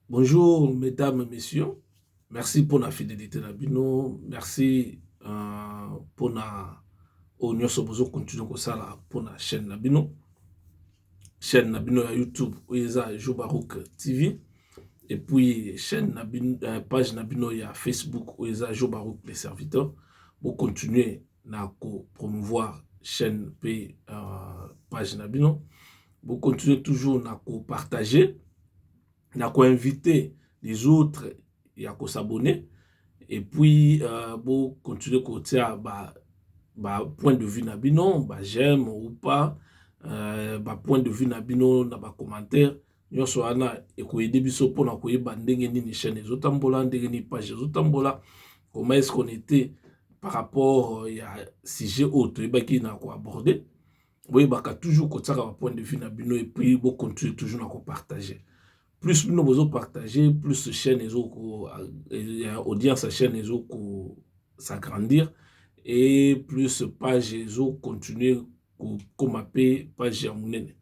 Bonjour mesdames et messieurs, merci pour la fidélité na bino, merci euh, pour na oyo nyonso bozo continue kosala mpo na chaîne na bino chaîne na bino ya youtube oyo eza jobarouk tv et puis chaîne na bino, euh, page na bino ya facebook oyo eza jobarouk le serviteur bocontinue na kopromouvoir chaîne mpe euh, page na bino bo continuer toujours na ko partager na ko inviter les autres ya ko s'abonner et puis euh, bo continuer kotia ba ba point de vue na bino ba j'aime ou pas euh, ba point de vue na bino na ba commentaire nyonso wana ekoyede biso mpo na koyeba ndenge nini chaîne ezotambola ndenge nini page ezotambola comment est-ce qu'on était par rapport euh, ya sujet oyo toyebaki na koaborde boyebaka toujours kotiaka ba point de vue na bino et puis bo continuer toujours na ko partager plus bino bozo partager plus chaîne ezo ko ya audience ya chaîne ezo ko s'agrandir et plus page ezo continuer kokoma pe page ya munene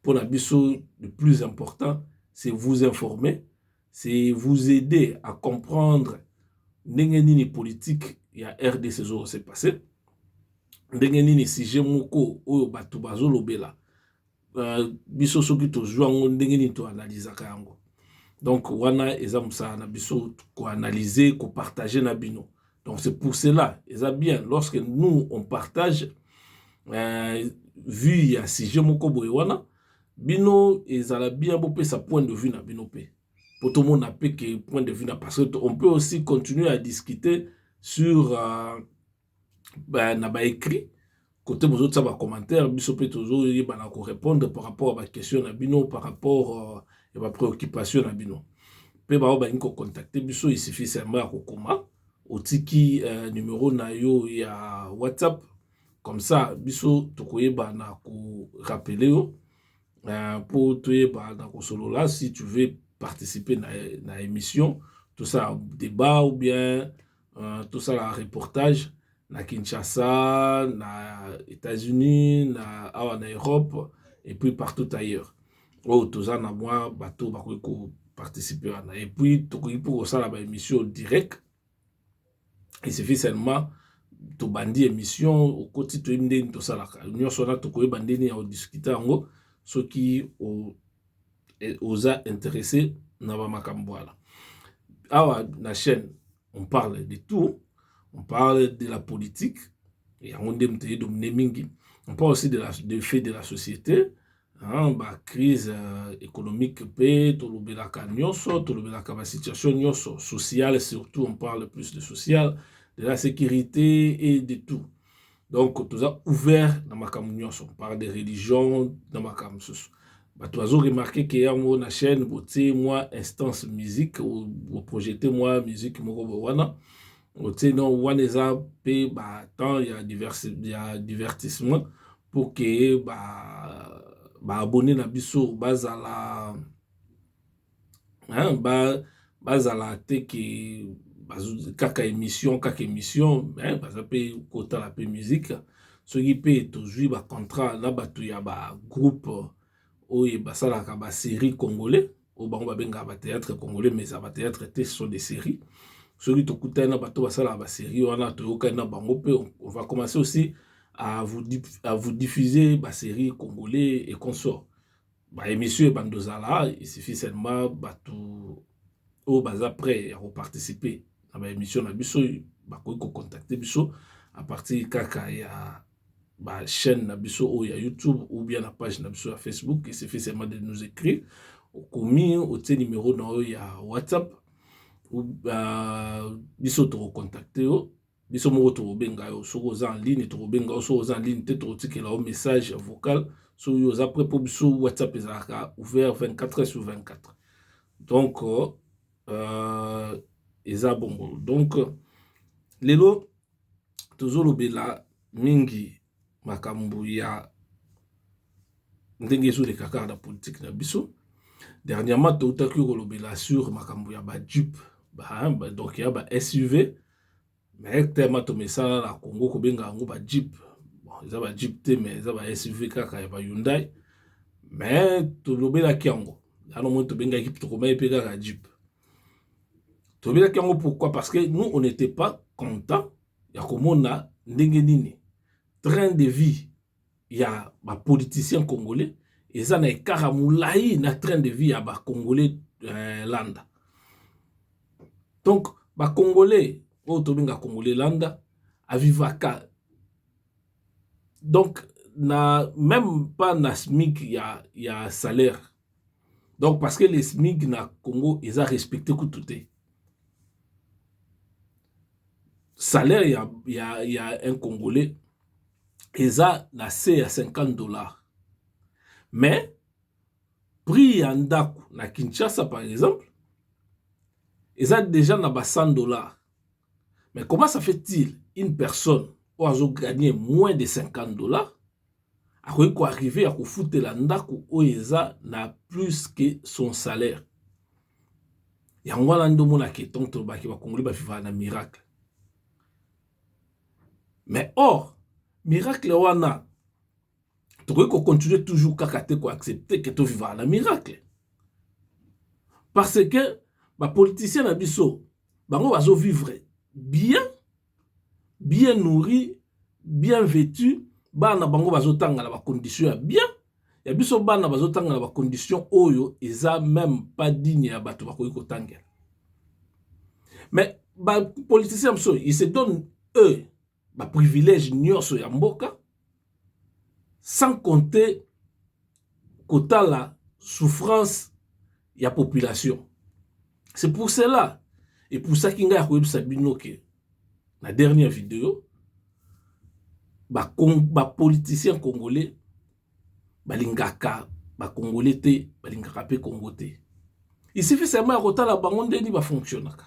mpona biso le plus important c'est vous informer c'est vous aider à comprendre ndenge nini politique ya rdc ezo se passer ndenge nini sujet moko oyo bato bazolobela uh, biso soki tozwi yango ndenge nini toanalizaka yango donc wana eza mosala na biso koanalyse kopartage na bino donc c'est pour cela eza bien lorsque nous on partage uh, vue ya sujet moko boye wana bino ezala bien bopesa point de vue na bino mpe mpo tomona mpe ke point de vue na parce que on peut aussi continuer à discuter sur euh, ba, na baécrit kote bozotia bacommentaire biso mpe tozoyebana korépondre par rapport ya baquestion na bino par rapport euh, ya euh, bapréoccupation na bino mpe baoyo balingi kocontacte biso isifi seulement ya kokoma otiki euh, numero na yo ya whatsapp comme ça biso tokoyeba na ko rappeler yo euh, po toyeba na kosolola si tu veux participer na, na émission tosala débat ou bien euh, tosala reportage na Kinshasa na États-Unis na awa na Europe et puis partout ailleurs oyo toza na mwa bato bakoki ko participer wana et puis tokoki mpo kosala ba émission direct il suffit seulement tobandi emission okoti toyebi nde nini tosalaka nyonso wana tokoyeba nde nini ya odiscute yango soki o, e, oza interesse na bamakambo wana awa na chaîne on parle de tout on parle de la politique yango nde moto eyedomine mingi on parle aussi de, la, de fait de la société ba crise economique pe tolobelaka nionso tolobelaka ba situation nionso sociale surtout on parle plus de sociale de la sécurité et de tout donc toza ouvert na makambo nionso par de religion na makambo mosusu bato bazo remarke ke yango na chaîne botie mwa instance musique boprojete mwa musique moko bo wana otie donc wana eza mpe ba temps ya, diversi, ya divertissement pour que ba ba abonne na biso bazala hein, ba bazala te ke kaka émission kaka émission hein, baza mpe kotala mpe musique soki mpe tozwi ba contrat na bato ya ba groupe oyo basalaka ba série congolais oyo bango babengaka ba theatre congolais mais eza ba theatre te ce sont des séries soki tokutani na bato basalaka ba série wana toyokani na bango mpe on va commencer aussi à vous, à vous diffuser ba série congolais et consort ba émission ebanda ozala il suffit seulement bato oyo baza prêt ya koparticiper na ba émission na biso bakoki kocontacte biso à partir kaka ya ba chaine na biso oyo ya youtube ou bien na page na biso ya facebook il suffit seulement de nous écrire okomi otie numero na yo ya whatsapp ou uh, biso tokocontacte yo biso moko tokobenga yo soki oza en ligne tokobenga yo soki oza en ligne te tokotikela yo message vocal soki yo oza pre mpo biso whatsapp ezalaka ouvert 24 sur 24 donc euh, euh, eza bongo donc lelo tozolobela mingi makambo ya ndenge ezoleka kaka na politike na biso dernièrement toutaki kolobela sur makambo ya bajupe donc ya ba suv mais tellement tomesana na congo kobenga yango bajupe bon, eza bajupe te mais eza ba suv kaka ya ba hyundai mais tolobelaki yango yano moi tobengaki tokomaki mpe kaka jupe tolobelaki yango pourquoi parce que nous on n'était pas content ya komona ndenge nini train de vie ya bapoliticien congolais eza na ekara molai na train de vie ya bacongolais eh, landa donc bacongolais oyo tobenga congolais landa avivaka donc na même pas na smic ya, ya salaire donc parce que le smig na congo eza respecte kutu te salaire ya, ya, ya un congolais eza na se ya 50 dollars mais prix ya ndako na kinshasa par exemple eza déjà na ba 100 dollars mais comment ça fait-il une personne oyo azo gagner moins de 50 dollars akoki ko arriver ya kofutela ndako oyo eza na plus que son salaire yango wana nde omona ke tango tolobaki ba congolais ba vivaka na miracle mais or miracle wana tokoki ko continuer toujours kaka te ko accepter ke tovivaka na miracle parce que ba politiciens na biso bango bazo vivre bien bien nourri bien vetu bana na bango bazotanga na bacondition ya bien ya biso bana bazotanga na bacondition oyo eza meme pas digne ya bato bakoki kotangela mais bapoliticien ya biso il se donne eux baprivilège nyonso ya mboka sans compter kotala souffrance ya population c'est pour cela epusaki ngai ya koyebisa bino ke na dernière video bapoliticien ba congolais balingaka bacongolais te balingaka mpe congo te isifi seulement ya kotala bango ndeni bafonctionnaka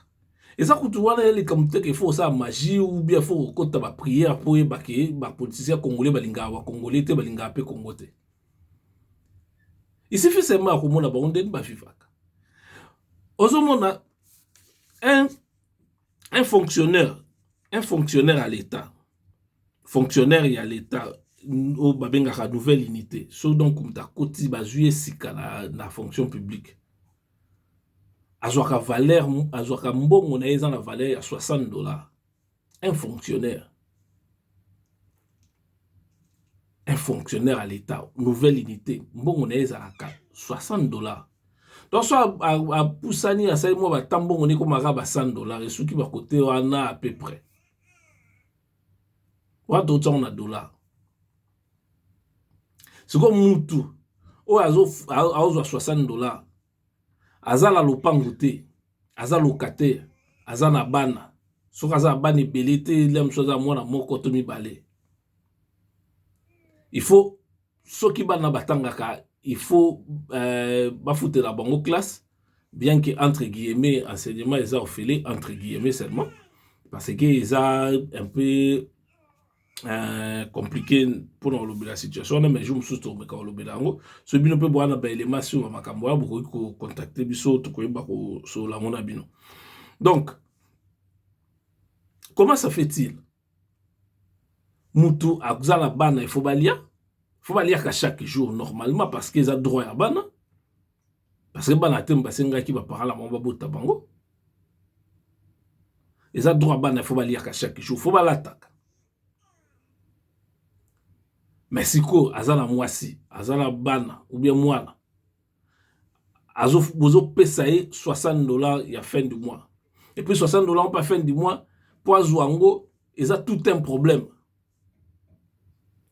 eza kutu wana ya likambo te ke fo osala magie ou bien fo okota ba prière mpo oyeba ke ba politicien congolais balingaka ba congolais te balingaka mpe congo te isifi seulement ya komona bango ndenge bavivaka ozomona un, un fonctionnaire un fonctionnaire ya l'état fonctionnaire ya l'état oyo babengaka nouvelle unité so donc moto akoti bazwi ye sika na, na fonction publique azwaka valeur azwaka mbongo na ye eza na valeur ya 60 dollar un fonctionnaire un fonctionnaire ya l'etat nouvelle unité mbongo na ye ezalaka 60 dollar to so apusani asali mwa batambongo nekomaka ba 100 dollar esuki bakote wana à peu près wana tokotia yango na dollar sikoyo mutu oyo azozwa 60 dollar aza na lopango te aza locataire aza na bana soki aza na bana ebele te lia mosusu aza mwana moko to mibale il faut soki bana batangaka il faut euh, bafutela bango classe bien que entre guillemets enseignement eza ofele entre guillemets seulement parce que eza un peu euh, compliqué mpona kolobela situation wana mais jour mosusu tokomeka kolobela yango soki bino mpe bowana baelema nsima makambo wana bokoki kocontacte biso tokoyeba kosolola yango na bino donc comment ça fait-il mutu aza na bana il faut balia il faut baliaka chaque jour normalement parce que eza droit ya bana parce que bana te basengaki ba parents na bango babota bango eza droit bana il faut baliaka chaque jour il faut balataka mais sikoyo aza na mwasi aza na bana ou bien mwana bozopesa ye 60 dollar ya fin du mois epuis 60 dollar mpe ya fin du mois mpo azwa yango eza tout un problème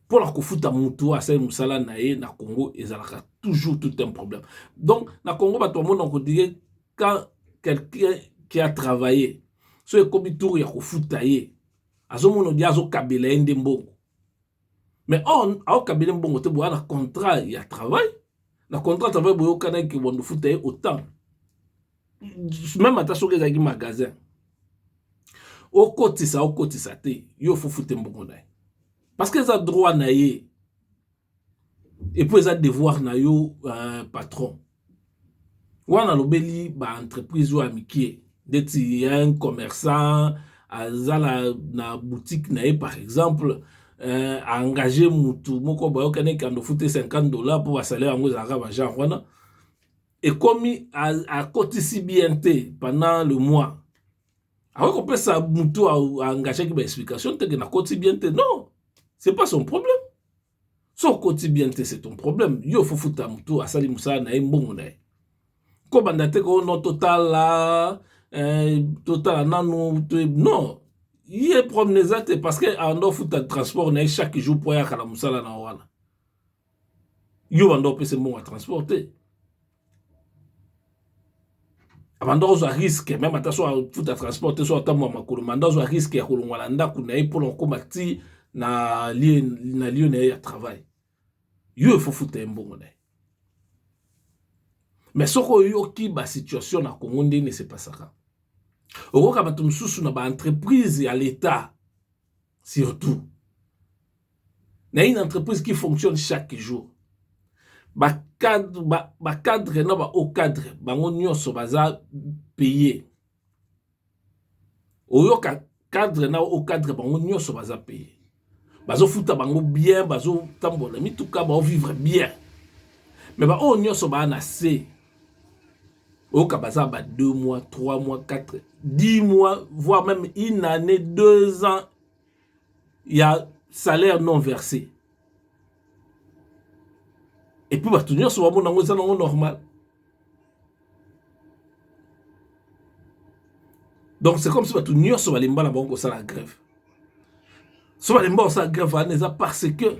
mpona kofuta motu oyo asali mosala na ye na congo ezalaka toujours tout un problème donc na congo bato bamona kodire quand quelqu'un qui a travaille so ekomi tour ya kofuta ye azomona odire azokabela ye nde mbongo mais on aokabele mbongo te boya na contrat ya travail na contrat ya travail boyokanaki ke bondo futa ye autant meme ata soki ezalaki magasin okotisa okotisa te yo ofofute mbongo na ye parce que eza droit na ye epuis eza devoir na yo uh, patron wana alobeli ba entreprise oyo ya mike ndeti ya un commerçant aza na, na boutique na ye par exemple euh, engage mutu moko bayokani ekando fute 50 dollars mpo basalaire yango ezalaka bagenre wana ekomi akotisi bien te pendant le mois akoki kopesa mutu aengagaki baexplication teke nakotisi bien te non c'est pas son problème Soki okoti bien te c'est ton problème. Yo faut futa mutu asali musala na ye mbongo na ye. Ko banda te ko no totala eh, totala nanu to non. Ye problème eza te parce que ando futa transport na ye chaque jour po ya kala musala na wana. Yo banda opese mbongo ya transport te. abanda kozwa riske meme ata so afuta transport te so atambwa makolo manda ozwa riske ya kolongwa na ndako na ye mpona kokoma ti na lieu na ye ya travail yo efofuta ye mbongo na ye mais soki oyoki basituation na congo ndeni esepasaka okoyoka bato mosusu na baentreprise ya leta surtout na une entreprise qui fonctionne chaque jour ba cadre ba, ba cadre na ba haut cadre bango nyonso baza paye oyoka cadre na haut cadre bango nyonso baza paye bazofuta bango bien bazotambola mituka baovivre bien me baoyo nyonso baa na se oyoka baza ba 2 mois 3 mois 4 10 mois voire même une année 2 ans ya salaire non versé epuis bato nyonso bamona yango eza nango normal donc c'est comme si bato nyonso balemba na bango kosala grève so balemba kosala grève wana eza parce que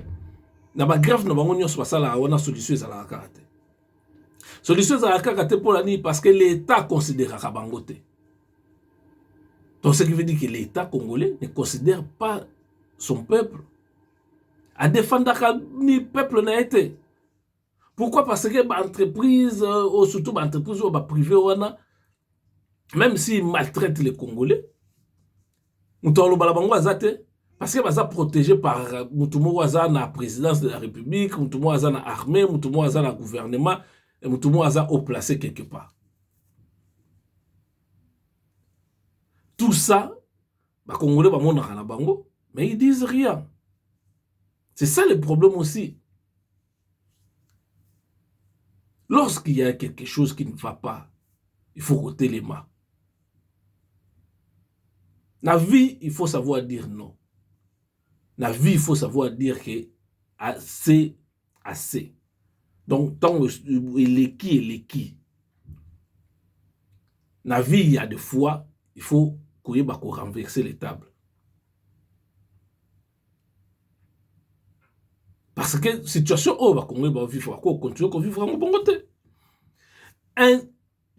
na bagrève na bango nyonso basalaka wana solution ezalaka kaka te solution ezalaka kaka te mpona nini parce que l'etat consideraka bango te donc ce qui veut dire que l'etat congolais ne considère pas son peuple adefandaka ni peuple na ye te pourquoi parce que baentreprise euh, oyo surtout baentreprise oyo baprivé wana même s'il maltraite les congolais moto aloba na bango aza te parce que baza protégé par moto moko aza na présidence de la république moto moko aza na armée moto moko aza na gouvernement moto moko aza au placé quelque part tout ça bakongole bamonaka na bango mais ils disent rien c'est ça le problème aussi Lorsqu'il y a quelque chose qui ne va pas, il faut kotelema. Na vie, il faut savoir dire non. Na vie, il faut savoir dire que assez, assez. Donc, tant eleki, eleki. Na vie, il y a des fois, il faut koyeba ko renverser les tables. parce que situation oyo bakongoli bavivre ako continue kovivre yango bongo te un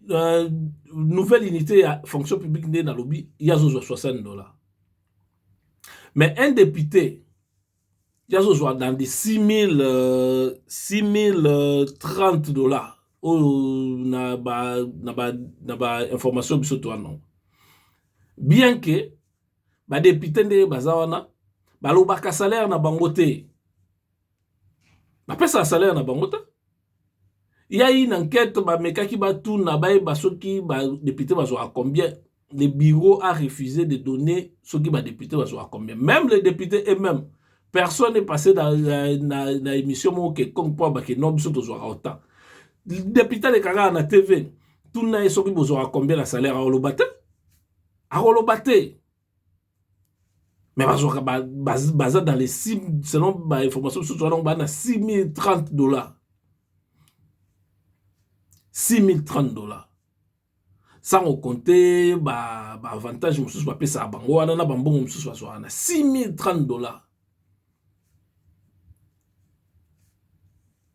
euh, nouvelle unité ya fonction publique nde nalobi ye azozwa 60 dollars mais un député ye azozwa dans des 6000 euh, 6030 dollars oyo na ba na ba na ba information biso toanango bien que ba depute nde baza wana balobaka salaire na bango te bapesaka salaire na bango te ya une enquête bamekaki batuna bayeba soki badepute bazwaka combien le bureau a refusé de donner soki badepute bazwaka combien même les députés et même personne est passé na, na, na, na émission moko quelconque mpo abake no biso tozwaka autant depute alekaka na tv tuna ye soki bozwaka combien na salaire aoloba te akoloba te mais bazwaka baza dans les 6 selon bainformation mosusu wana baa na 6030 dollars 6030 dollars sans okonte baavantage ba mosusu bapesaka bango wana na bambongo mosusu bazwaka na 6030 dollars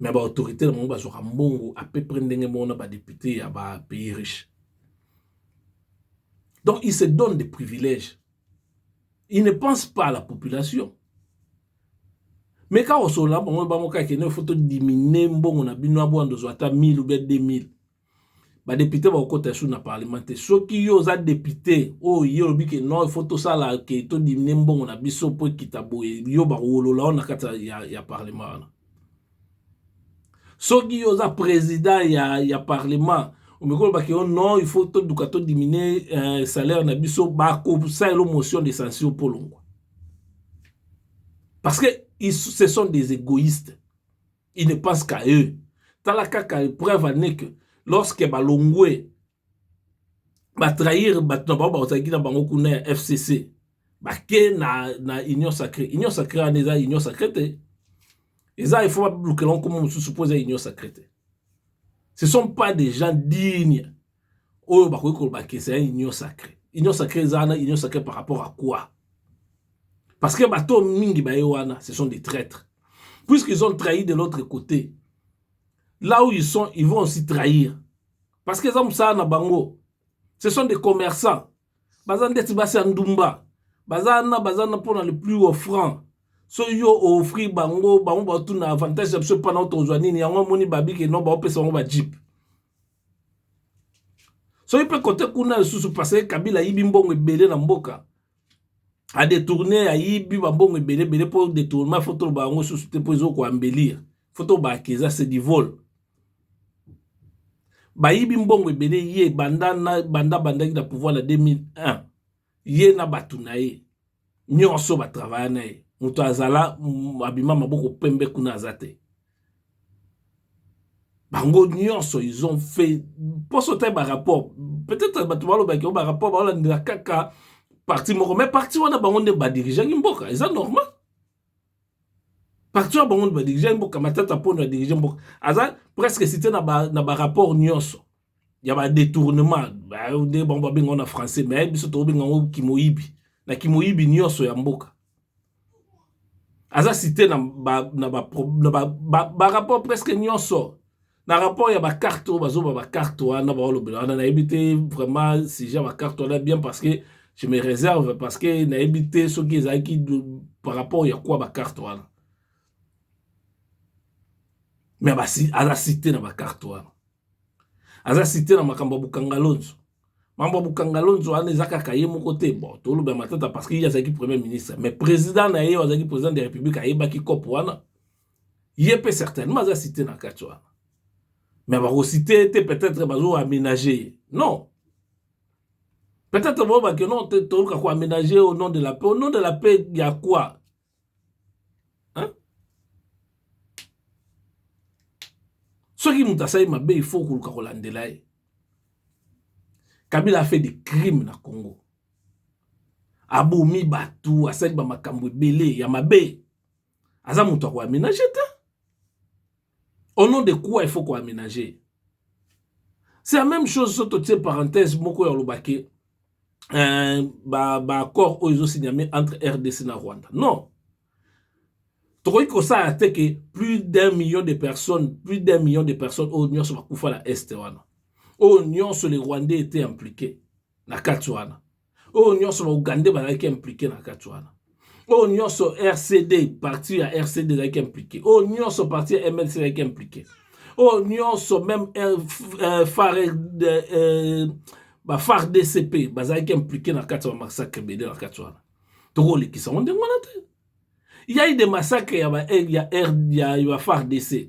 mais ba autorites na bango bazwaka mbongo à peu près ndenge moko na ba deputes ya ba pays riches donc il se donne des privilèges il ne pense pas à la population mais kaka osolola bango bango kaka kende faut to diminue mbongo na bino abwanda ozwa ata 1000 ou bien 2000 ba député bakokota lisusu na parlement te soki yo oza député oyo ye olobi ke non ifo tosala ke to diminue mbongo na biso mpo ekita boye yo bakowolola yo na kati ya, ya parlement wana soki yo oza président ya, ya parlement omekoki olobaka yo non il faut toduka to diminue euh, salaire na biso bakosalela yo motion de censure mpo olongwa parce que ils, ce sont des égoïstes il ne pense qu'à eux tala kaka preuve ane que lorsque balongwe batrahir bato na bango bazalaki na bango kuna ya fcc bake na, na union sacré union sacré wana eza union sacré te eza ifo bablukela nkoma mosusu mpo eza union sacré te ce sont pas des gens dignes oyo bakoki koloba ke eza union sacré union sacré eza wana union sacré par rapport à quoi parce que bato mingi baye wana ce sont des traîtres puisqu'ils ont trahi de l'autre côté là où ils sont ils vont aussi trahir parce que eza mosala na bango ce sont des commerçants baza ndeti basi ya ndumba baza na baza na mpona le plus offrant so yo oofri bango bango baotuna avantage ya biso mpana otokozwa nini yango omoni babike no baopesa bango bajipe soki mpe kote kuna lisusu parce que kabila ayibi mbongo ebele na mboka adetourne ayibi bambongo ebele ebele mpo detournement fo toloba yango susu te mpo ezokoambelire fo tobaki eza se divole bayibi mbongo ebele ye banda bandaki na pouvoir na 2001 ye na bato na ye nyonso batravaya na ye moto azala abima maboko pembe kuna aza te bango nyonso ils ont fait mposo te barapport peut-être bato balobaki o barapport baolandela kaka parti moko mais parti wana bango nde badirigeaki mboka eza normal parti wana bango nde badirigeaki mboka matata mpono adirige mboka aza presque site na barapport nyonso ya ba detournement nde bango babenga ngo na français mais biso tokobenga ngo kimoyibi na kimoyibi nyonso ya mboka aza cite na ba, na ba, na ba, ba, ba rapport presque nyonso na rapport ya bacarte oyo bazoba bacarte wana baolobela wana nayebi te vraiment sujet ya bacarte wana bien parce que je me réserve parce que nayebi te soki ezalaki par rapport ya kwa bacarte wana mais aza cite na bacarte wana aza site na makambo ya bukangalonzo mambo ya bukangalonzo wana eza kaka ye moko te bon toloba matata parce que ye azalaki premier ministre mais président na ye azalaki président de république ayebaki cope wana ye mpe certainement aza site na kati wana mais bakosite ye te peut-être bazo aménage ye non peut-être boyebake non toluka koaménage au nom de la paix au nom de la paix ya quoi hein? soki moto asali mabe il faut koluka kolandela ye kabila afe de crime na congo abomi bato asali bamakambo ebele ya mabe aza moto akoamenage te au nom de quoi il faut ko aménager c'est la même chose soki totie parenthèse moko ya koloba ke euh, baaccord ba oyo ezosigname entre rdc na rwanda non tokoki kosala te ke plus d'un million de personnes plus d'un million de personnes oyo nyonso bakufa na este wana oyo nyonso le rwandais ete impliqué na kati wana oyo nyonso ba ougandais bazalaki implike na kati wana oyo nyonso rcd parti ya rcd ezalaki implike oyo nyonso parti ya mlc ezalaki implike oyo nyonso meme euh, euh, fare euh, bafar dcp bazalaki implike na kati ya bamassacre ebele na kati wana tokolekisa yango ndenge wana te yai de massacre ya, ba, ya, ya, ya bafar dc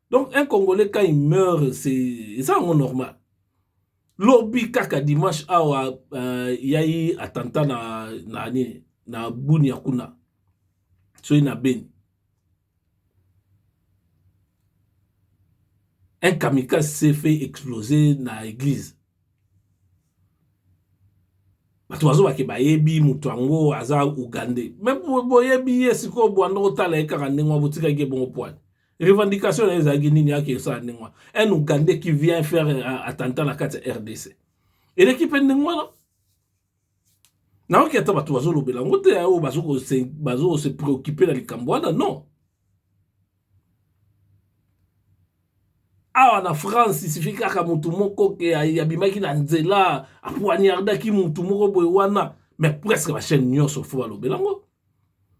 donc un congolais quand il meurt c'est eza yango normal lobi kaka dimanche awa uh, yai attentat na na nini na bunia kuna soki na beni un kamikaze s'est fait exploser na église bato bazobake bayebi moto yango aza ugandais me boyebi ye sikoyo bwanda otala ye kaka ndenge wa botikaki ye bongo pwani revendication na ye ezalaki nini yaki esala ndenge wana un ougandais qui vient faire euh, attentat na kati ya rdc eleki mpe ndenge wana nayoki ata bato bazolobela yango te oyo bazo se préoccupe na likambo wana non awa na france isifi kaka motu moko ke abimaki na nzela apoignardaki motu moko boye wana mais presque bachaine nyonso fo balobela yango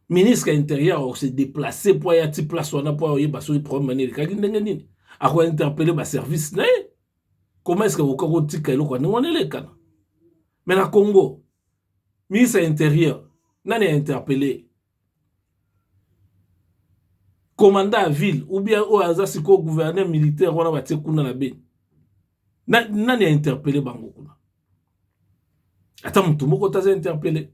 ministre ya interieur akose deplace mpo aya ti place wana mpo ayeba soki problème wana elekaki ndenge nini ako interpele baservice na ye koma eske kokoka kotika eloko ya ndenge wana elekana me na congo ministre ya interieur nani ya interpele commandant ya ville ou bien oyo aza sikoyo gouverneur militaire wana batie kuna na beni nani ya interpele bango kuna ata motu moko te aza interpele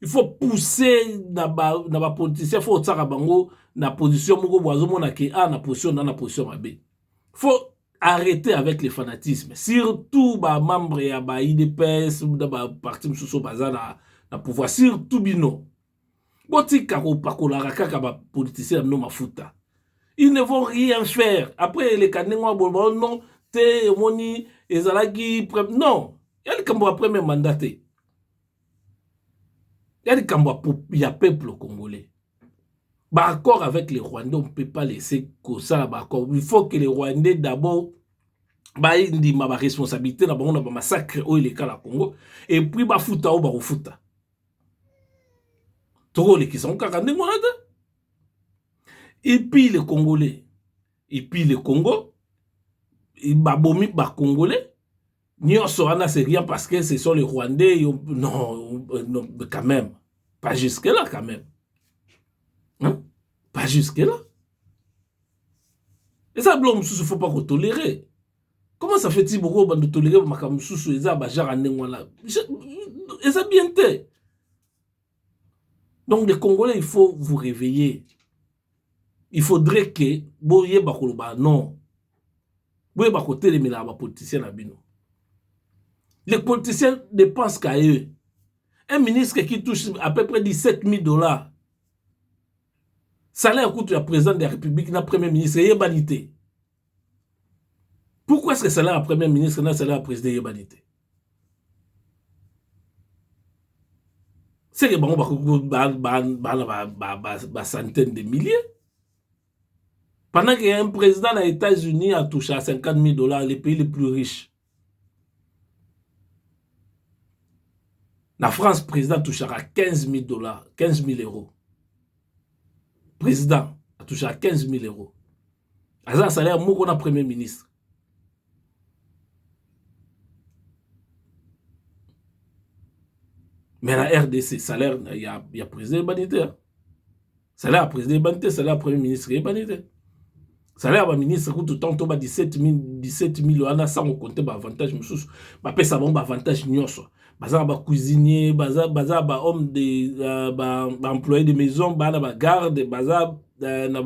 il faut pousser na ba na ba politiciens faut otsaka bango na position moko bo azomona ke a ah, na position na na position mabe faut arrêter avec les fanatismes surtout ba membre ya ba idps na ba parti mosusu baza na, na pouvoir surtout bino botika kopakolaka kaka ba politiciens na bino mafuta ils ne vont rien faire après eleka ndenge wana boloba oh non te omoni ezalaki non ya likambo ya premier mandat te ya likambo ya peuple congolais ba accord avec le rwandais on peut pas laisser kosala ba accord il faut que le rwandais d'abord bandima ba responsabilité na bango na ba massacre oyo eleka na congo epuis bafuta oyo bakofuta tokolekisa ngo kaka ndenge wana te epuis le congolais epuis le congo babomi ba congolais Nionso wana c'est rien parce que ce sont les Rwandais yo, non, euh, non quand même pas jusque là quand même hein? pas jusque là eza biloko mosusu faut pas kotolérer comment ça fait-il boko bando tolérer makambo mosusu eza bajara ndenge wana eza bien te donc les congolais il faut vous réveiller il faudrait que boyeba koloba non boyeba kotelemelaka bapoliticien na bino les politiciens dépensent qu'à eux un ministre qui touche à peu près 17 000 dollars salaire kutu ya président de la république na premier ministre eyebani te Pourquoi est-ce que salaire ya premier ministre na salaire ya president eyebani te seke bango bacentaine de milliers pendant que un président na états-unis atoucha 50 000 dollars le pays le plus riche Na France president atouchaka 15000 dollars 15000 euros president atouchaka 15000 euros aza na salaire moko na premier ministre mais na rdc salaire ya, ya president ebani te salaire ya président eyebani te salaire ya premier ministre eyebani te salaire ya baministre kutu ntango to ba 17000 wana sango konte baavantage mosusu bapesa bango baavantage nyonso baza na bacuisinier baza, baza bahomme de uh, baemployé ba de maison baa na bagarde baza uh, na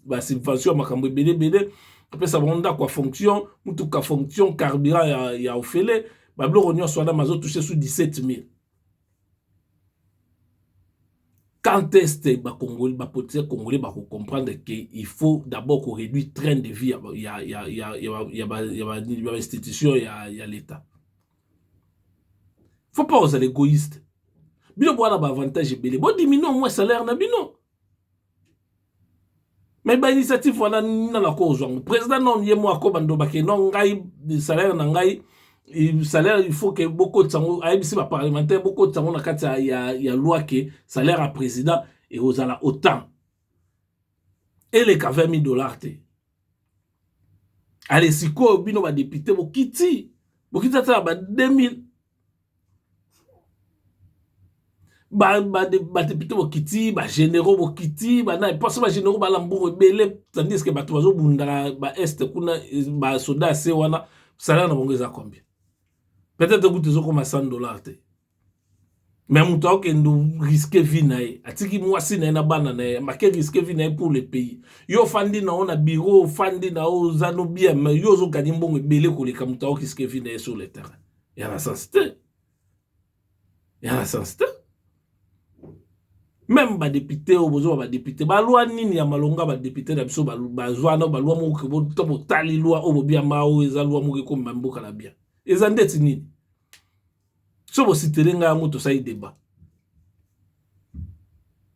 basubvention ba ya makambo ebele ebele apesa bango ndako ya fonction motuka fonction carburant ya, ya ofele babiloko nyonso wana mazotouche su 17000 Quand est ce ba congolais ba politiciens congolais ba ko comprendre que il faut d'abord ko reduire train de vie ya ya ya ya ba ya ba institution ya ya l'etat faut pas ozala egoïste bino boza na ba avantage ebele bo diminuer au moins salaire na bino mais ba initiative wana nina na ko ozwa ngo president non ye mo akoba ndoba ke non ngai salaire na ngai salaire il faut ke bokotisa ngo ayebisi ba parlementaire bokotisa ngo na kati ya, ya, ya loi ke salaire ya president ekozala autant eleka 20 000 dollars te ale sikoyo bino badepute bokiti bokiti ata ya ba 2000 ba depute bokiti ba generaux bokiti ba nani parce ba generaux ba labour ebele tandis que bato bazo bunda na ba est kuna ba soda ya se wana salaire na bango eza combien peut etre kutu ezo koma 100 dollars te mais moto akokende risque vie na ye atiki mwasi na ye na bana na ye make risque vie na ye pour le pays yo ofandi na yo na bureau ofandi na yo oza no bien mais yo ozo gagner mbongo ebele koleka moto ako risque vie na ye sur le terrain ya na sens te ya na sens te meme badepute oyo bozwa badepute balwa nini ya malonga badepute na biso bazwa na balwa moko to botali lwa oyo bobiamba oyo eza lwa moko ekomema mboka na bien eza ndeti nini so bositele ngai yango tosali deba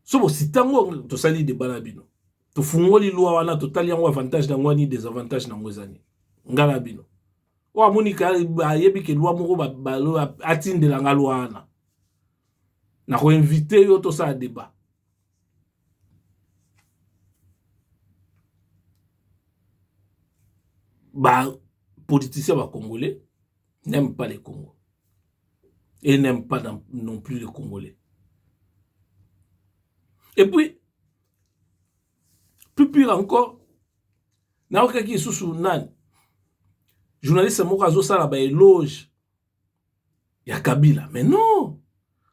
so bosita yango tosali deba na bino tofungoli lwa wana totali yango avantage na yango ani desavantage na yango eza nini ngai na bino oyo amoni ka ayebi ke lwa moko balo atindela nga lwa wana na koinvite yo tosala debat ba politicien ba congolais n'aime pas le congo et n'aime pas non plus le congolais et puis plus pire encore nayokaki lisusu nani journaliste moko azosala baeloge ya kabila mais non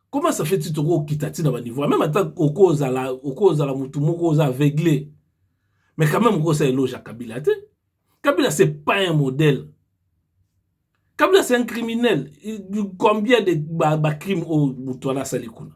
comment ça fait ti tokokita ti na baniveau meme ata okozala okozala motu moko oza aveugle mais quand même okosa eloge ya kabila te kabila c'est pas un modèle kabila c'est un criminel combien de bacrime ba oyo motu wana asali kuna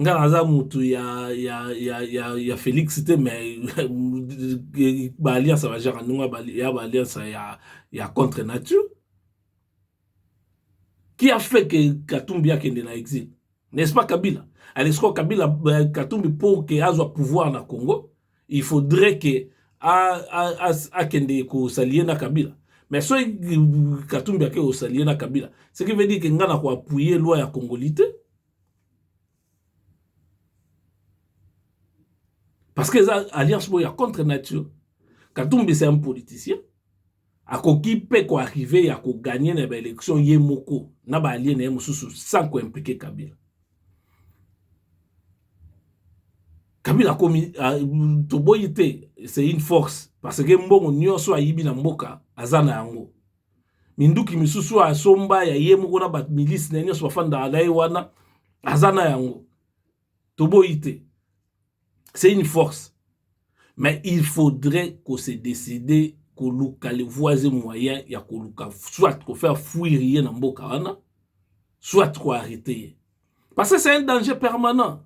nga naza mutu ya ya ya ya, ya Felix te mais ba alliance ya ba genre ndenge ya ba alliance ya ya contre nature qui a fait que Katumbi akende na exil n'est-ce pas Kabila alesiko Kabila euh, Katumbi pour que azwa pouvoir na Congo il faudrait que akende kosalie na Kabila mais soki Katumbi ake kosalie na Kabila ce qui veut dire que nga na ko appuyer loi ya Congolite parce que eza alliance moko ya contre nature katumbi c'est un politicien akoki mpe koarrive ya koganye na baélection ye moko na baalie na ye mosusu sans koimplike kabila kabila akomi toboyi te c'est une force parce que mbongo nyonso ayibi na mboka aza na yango minduki misusu oyo asomba ya ye moko na ba milice na ye nyonso bafandaka na ye wana aza na yango toboyi te c'est une force mais il faudrait ko se décider koluka le voies moyen ya koluka soit ko faire fuir ye na mboka wana soit ko arrêter ye parce que c'est un danger permanent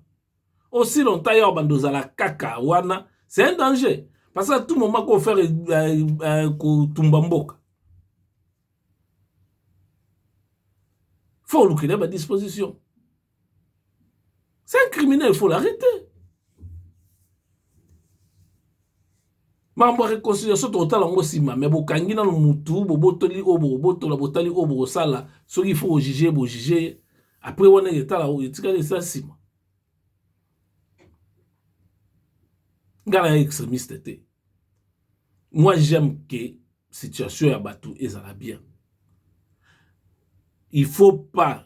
aussi longtemps ya banda ozala kaka wana c'est un danger parce que à tout moment ko faire euh, euh, kotumba mboka faut olukela ba disposition c'est un criminel faut l'arrêter mambo ya reconciliation tokotala yango nsima me bokangi nano mutu bobotoli oyo bokobotola botali oyo bokosala soki ifo kojuge bojuge ye apres wana etala oyo etikali eza nsima ngai naya extremiste te moi j'aime ke situation ya bato ezala bien il faut pas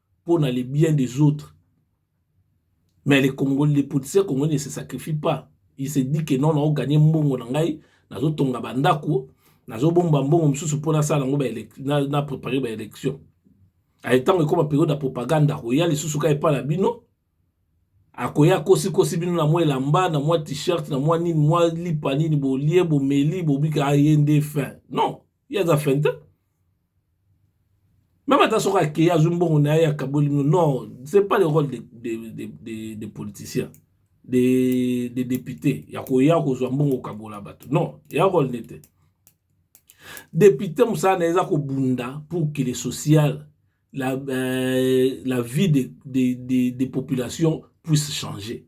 pona le bien des autres mais le congolais le politicien congolais ne se sacrifie pas il se dit que non nao gagner mbongo na ngai nazotonga bandako nazobomba mbongo mosusu mpo nasala yango na prepare baélection aye ntango ekoma periode ya propagande akoya lisusu ka epai na bino akoya akosikosi bino na mwa elamba na mwa t-shirt na mwa nini mwa lipa nini bolie bomeli bobika aye nde fin non ye aza fin te meme ata soki akei azwi mbongo na ye akaboli mino non c'est pas le rôle de, de, de, de, de politicien de, de député ya koya kozwa mbongo okabola bato non eya rôle ne te député mosala na ye eza kobunda pour que le social la, euh, la vie des de, de, de populations puisse changer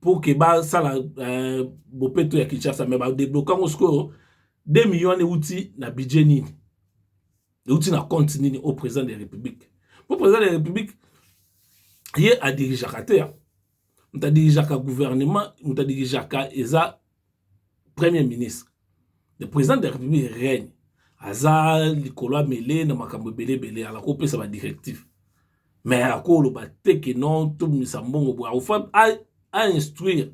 pour que basala euh, bopeto ya kinshasa mais badebloke yango sikoyo 2 million wana euti na budget nini euti na compte nini au président de la république mpo président de la république ye adirigeaka te moto adirigeaka gouvernement moto adirigeaka eza premier ministre le président de la république règne aza likolo amele na makambo ebele ebele ala kopesa ba directive mais akoloba te ke non tobimisa mbongo boye akofa a instruire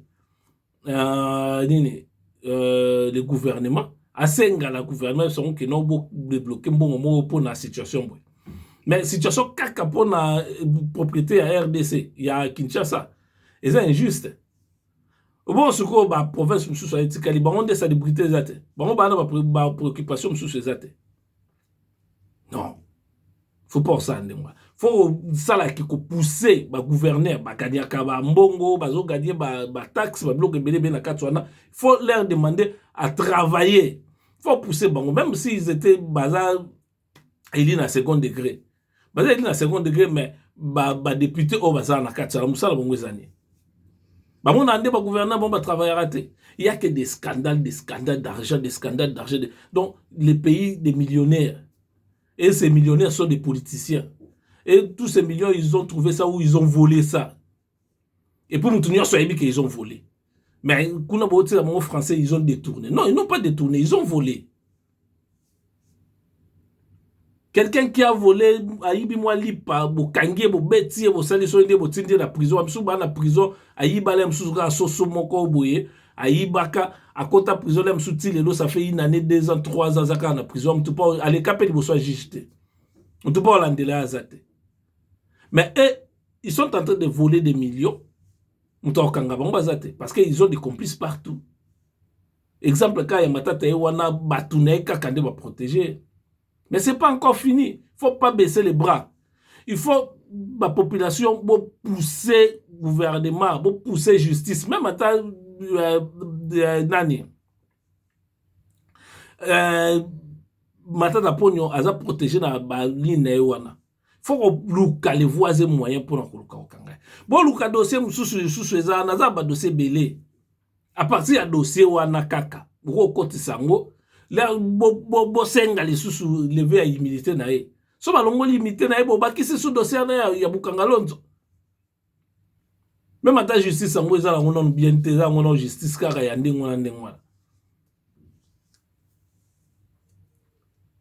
uh, nini uh, le gouvernement asenga la gouvernement sango ke non bodebloke mbongo moko mpo na situation boye mais situation kaka mpo na propriété ya rdc ya kinshasa eza injuste Bon sikoyo ba province mosusu ayetikali bango nde salubrité eza te bango baa na ba préoccupation mosusu eza te non faut pas osala ndenge wana faut osala ke kopousse bagouverneur bagadiaka bambongo bazogadie bataxe ba babiloko ebele ebele na kati wana faut leur demander à travailler faut pousse bango même si ils étaient baza eli na second degre baza eli na second degre mais badepute oyo bazala na kati sala mosala bango eza nini bango na nde bagouverneur bango batravaillaka te ya ke des scandales des scandales d'argent des scandales d'argent de... donc le pays des millionnaires et ces millionnaires sont des politiciens et tous ces millions ils ont trouvé ça ou ils ont volé ça Et puis mutu nyonso ayebi que ils ont volé. Mais kuna bo tela bango français ils ont détourné. Non, ils n'ont pas détourné, ils ont volé. Quelqu'un qui a volé ayibi mwa lipa bokangi ye bobeti ye bosali soki nde botindi ye na prison ya mosusu baa na prison ayibala ya mosusu kaka soso moko boye ayibaka akota prison ya mosusu ti lelo ça fait une année deux ans trois ans aza kaka na prison motu mpo aleka mpe liboso ya juge te motu mpo alandela ye aza te mais e, ils sont en train de voler des millions moto akokanga bango baza te parce que ils ont des complices partout exemple ka ya matata ye wana bato na ye kaka nde baprotege mais c'est pas encore fini faut pas baisser les bras il faut bapopulation bopousse gouvernement bopousse justice même ata euh, euh, nani euh, matata mponio aza protege na baline na ye wana fo koluka le voies et moyen mpona koluka kokanga ye boluka dossier mosusu lisusu eza wana aza badossier ebele apartir ya dossier wana kaka bokokotisa yango bosenga bo, bo lisusu leve ya humilité na ye so balongoli humilité na ye bobakisi su dossier wana ya, ya bukanga lonzo Meme ata justice yango eza nango nanu bien te, eza yango nanu justice kaka ya ndenge wana ndenge wana.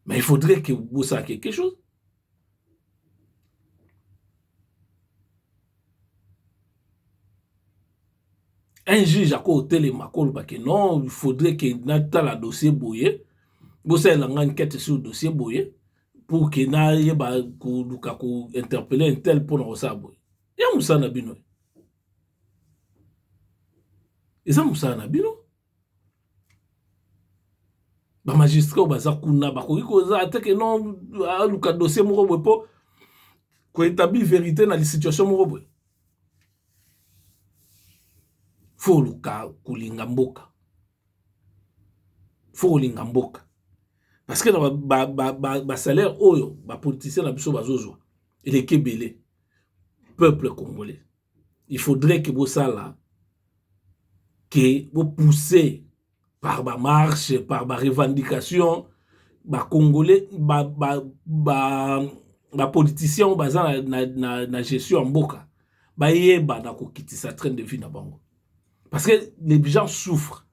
Mais il faudrait que bosala quelque chose. un juge ako otelema akoloba ke non il faudrait ke natala dossier boye bosalela ngai enquête sur dossier boye pour que nayeba koluka ko interpelle intel mpo na kosala boye ya mosala na bino eza mosala na bino bamagistrat oyo baza kuna bakoki koza ata ke non aluka dossier moko boye mpo koetabli verité na lisituation moko boye fo oluka kolinga mboka fo kolinga mboka parce que na ba, ba, ba, ba, ba salaire oyo ba politiciens na biso bazozwa eleki ebele peuple congolais il faudrait que bosala que bopousse par ba marche par ba revendication ba congolais ba, ba, ba, ba politiciens oyo baza na, na, na, na gestion ya mboka bayeba na kokitisa train de vie na bango parce que les gens souffrent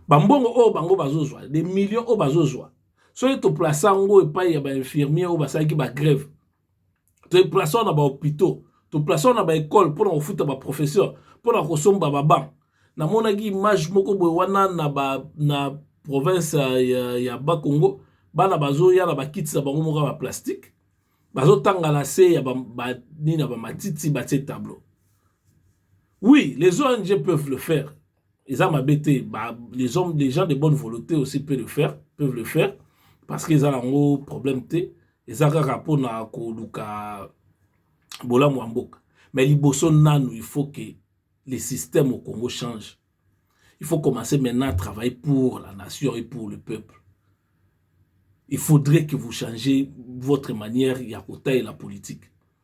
ba mbongo oyo bango bazozwa des millions oyo bazozwa soki to place yango epai ya ba infirmier oyo basalaki ba grève to place yango na ba hopitaux to place yango na ba ecole mpona kofuta ba professeur mpona kosomba ba banc namonaki image moko boye wana na ba na province ya, ya ba congo bana bazoya na bakiti na bango moko ya ba plastique bazotanga na se ya ba, ba, nini ya bamatiti batie tableau Oui les ONG peuvent le faire eza mabe te ba les hommes les gens de bonne volonté aussi peut le faire peuvent le faire parce que eza nango problème te eza kaka mpona koluka bolamu ya mboka mais liboso nanu il faut que le système au Congo change il faut commencer maintenant à travailler pour la nation et pour le peuple il faudrait que vous changez votre manière ya kotalela politique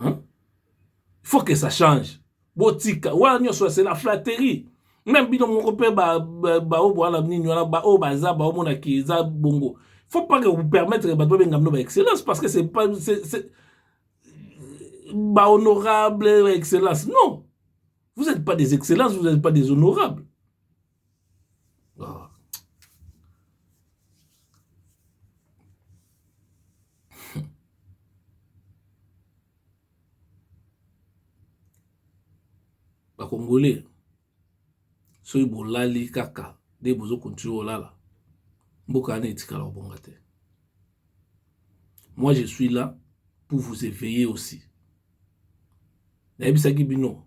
hein? faut que ça change botika wana nyonso c'est la flatterie même bino moko mpe baoyo bowana nini wana baoyo baza baomona ki eza bongo faut pas que vous permettre bato babenga bino ba excellence parce que c'est pas ba honorable ba excellence non vous n'êtes pas des excellences vous n'êtes pas des honorables ah. bakongole soki bolali kaka nde bozo continue olala mboka wana etikala kobonga te moi je suis là pour vous éveiller aussi nayebisaki bino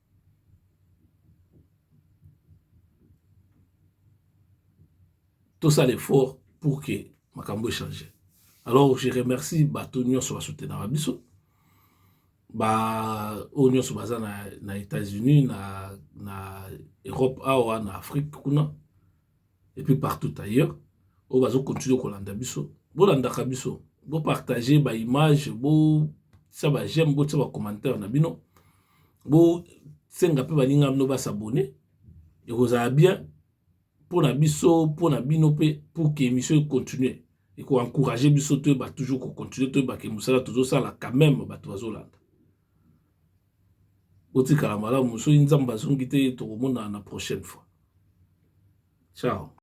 tosala effort pour que makambo echange alors je remercie bato nyonso basoutenaka biso baoyo nyonso baza na, na états-unis na, na europe awa na afrique kuna et puis partout ailleurs oyo bazo continue kolanda biso bolandaka biso bopartage baimage botia bajeme botia bacommentaire na bino bosenga mpe baninga bino basabone ekozala bien mpo na biso mpo na bino mpe pour que émission econtinue ekoencourage biso toyeba toujours kocontinue toyeba ke mosala tozosala quand même bato bazolanda Botikala malamu soki nzambe azongi te tokomonana na prochaine fois ciao.